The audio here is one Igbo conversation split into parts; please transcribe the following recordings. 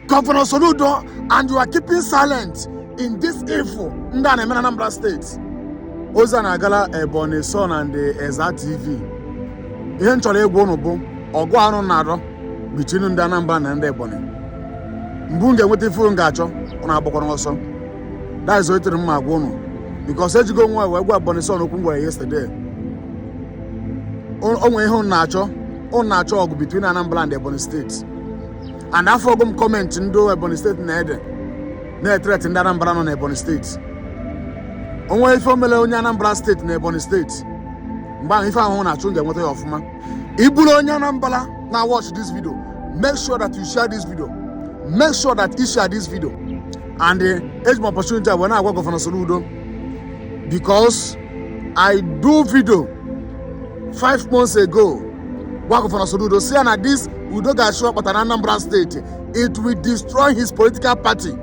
Governor Soludo and you are keeping silent in this evil ndị a na-eme na Anambra steeti ozi a na-agala Ebonyi Son and Eza TV ihe m chọrọ ịgwa ụnụ bụ ọgụ ụnụ na-adọ between ndị Anambra na ndị Ebonyi mgbe ụnụ ga-enweta ife ụnụ ga-achọ ụnụ agbakwana ọsọ that is what m na-agwa ụnụ because ejigo nwayọ wee gwa Ebonyi Son okwu m gwara yesterday o nwere ihe ụnụ na-achọ ụnụ na-achọ ọgụ between Anambra and Ebonyi steeti and afụgo m comment ndị ebonyi steeti na-ede na-etreti ndị anambra nọ n'ebonyi steeti o nwee ife o mele onye anambra steeti na ebonyi steeti mgbe ahụ ife ahụ unu na-achọ unu ga-enweta ya ọfụma ị bụrụ onye anambra na watch this video make sure that you share this video make sure that you share this video and eh, eji m opportunity a wee na-agwa gọvanọ Soludo because i do video five months ago gwa gọvanọ Soludo sị ya na this udo ga-achị ọ kpata na Anambra steeti it will destroy his political party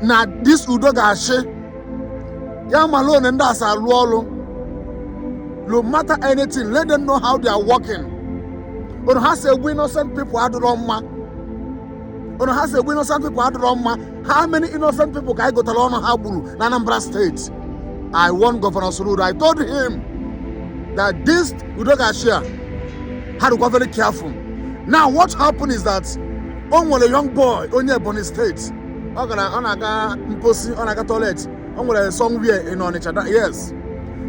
na this udo ga-achị ya mala otu ndị a si alụ ọlụ no matter anything let them know how they are working otu ha si egbu innocent people adịrọ mma otu ha si egbu innocent people adịrọ mma how many innocent people ka anyị gụtara ọnụ ha gburu na Anambra steeti I warned Governor Soludo I told him that this Udogachi a ha dịkwa very careful now what happened is that o nwere young boy onye Ebonyi steeti ọ gara ọ na-aga mposi ọ na-aga toilet o nwere somewhere in Onitsha yes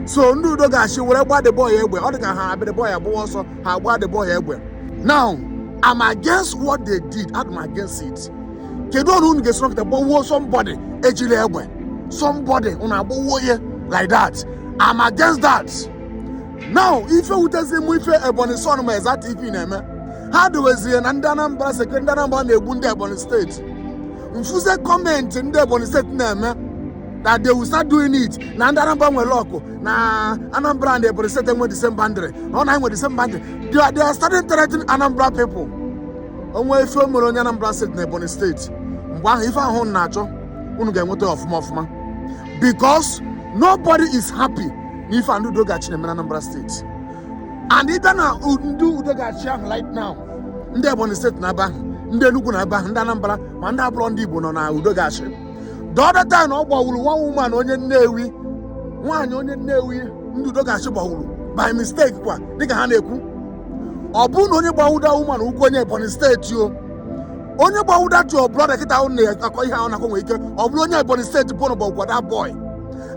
so ndị Udogachi wee gba the boy egbe ọ dị ka ha abịa the boy agbawa ọsọ ha agba the boy egbe now I'm against what they did I'm against it kedu otu unu ga-esi nọkịta gbagbuo somebody ejirọ egbe somebody unu agbagbuo ya like that I'm against that now ife wutezi m ife ebonyi son na eza tv na-eme ha dowezie na ndị anambra sị ka ndị anambra na-egbu ndị ebonyi steeti m fụzie comment ndị ebonyi steeti na-eme na they will start doing it na ndị anambra nwere ọkụ na anambra and ebonyi steeti nwe the same boundary na ọ na enwe the same boundary they are, they are starting threatening anambra people o nwee ife o mere onye anambra steeti na ebonyi steeti mgbe ahụ ife ahụ unu na-achọ unu ga-enweta ya ọfụma ọfụma because nobody is happy na ife ndị udogachi na-eme na anambra steeti and ị bịa na u- ndị udogachi ahụ right now ndị ebonyi steeti nọ ebe ahụ ndị enugwu nọ ebe ahụ ndị anambra ma ndị abụrọ ndị igbo nọ na udogachi the other time ọ gbawuru one woman onye nnewi nwaanyị onye nnewi ndị udo ga-achị gbawuru by mistake kwa dịka ha na-ekwu ọ bụrụ na onye gbawu that woman ahụ bụ onye ebonyi steeti o onye gbawu that your brother kịta ahụ na-akọ ihe ahụ na-akọ nwere ike ọ bụrụ onye ebonyi steeti bụ na gbawukwa that boy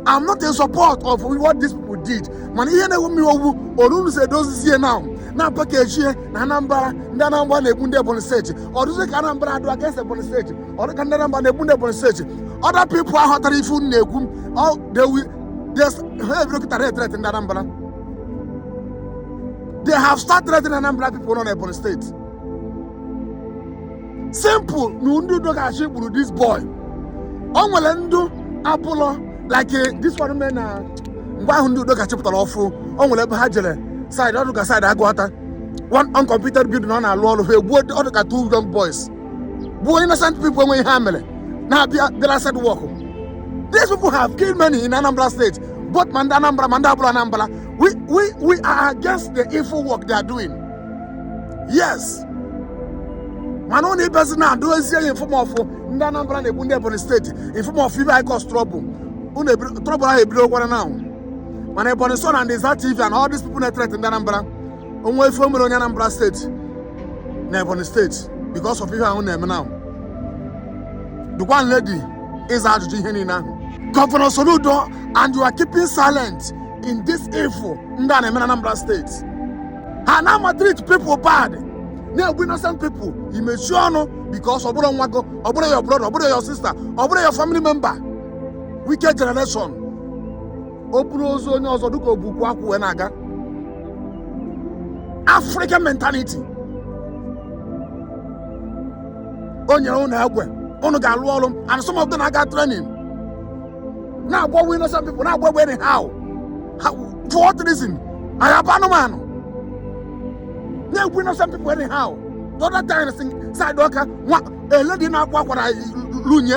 I'm not in support of what these people did mana ihe na-ewu m iwe wụ otu unu si edozizi ya na-apakeji ya na Anambra ndị Anambra na-egbu ndị Ebonyi steeti ọ dụzi ka Anambra adụ against Ebonyi steeti ọ dụ ka ndị Anambra na-egbu ndị Ebonyi steeti other people aghọta ife unu na-ekwu ọ dewi ha ebido kịta threaten ndị Anambra they have started threatening Anambra people nọ na Ebonyi steeti simple na ndị udo ga-achị gburu this boy o nwere ndị abụọ like eh, this one mee na mgbe ahụ ndị udo ga-achị pụtara ọfụ o nwere ebe ha jere side ọ dụ ka side agụata one uncompleted building nọ na-alụ ọrụ ha egbuo ọ dụ ka two young boys bụ innocent people enweghị ihe ha mere na-abịa bịara site work these people have killed many in anambra state both ma ndị anambra ma ndị abụrọ anambra we, we, we are against the evil work they are doing yes mana ọ na-ebezi na-edozi ya in form of ndị anambra na-egbu ndị ebonyi steeti in form of ife ga-akọs trọbụl trọbụl ahụ ebidogokwa now mana ebonyi son na ndị za tv and all these people na-etrete ndị anambra o nwee ife mere onye Anambra steeti na Ebonyi steeti because of ihe ahụ na-eme na dụkwanụ ready ịza ajụjụ ihe niile ahụ Governor Soludo and you are keeping silent in this evil ndị a na-eme na Anambra steeti ha na-amaltreat people bad na-egbu innocent people i mechie ọnụ because ọ bụrọ nwa gị ọ bụrọ your brother ọ bụrọ your sister ọ bụrọ your family member wicked generation o buru ozu onye ọzọ dịka o bu ukwu akwụ wee na-aga african mentality o nyere ụnụ egbe ụnụ ga-alụ ọrụ and some of them aga training na-agbawa innocent people na-agbawa anyhow for what reason anyị abụ anụmanụ na-egbu innocent people anyhow the other time side ọka one lady na-akwa akwara lunye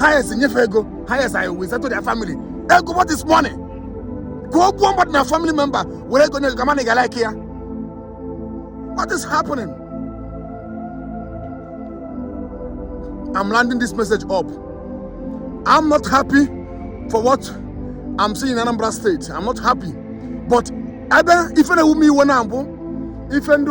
highest nyefe ego highest i will settle their family ego what is money ka o gbuo mmadụ na family member were ego nye gị ka a ma na ị ga-alike ya what is happening i'm rounding this message up i'm not happy for what i'm seeing in anambra state i'm not happy but ebe ife na-ewu m iwe na mbụ ife ndị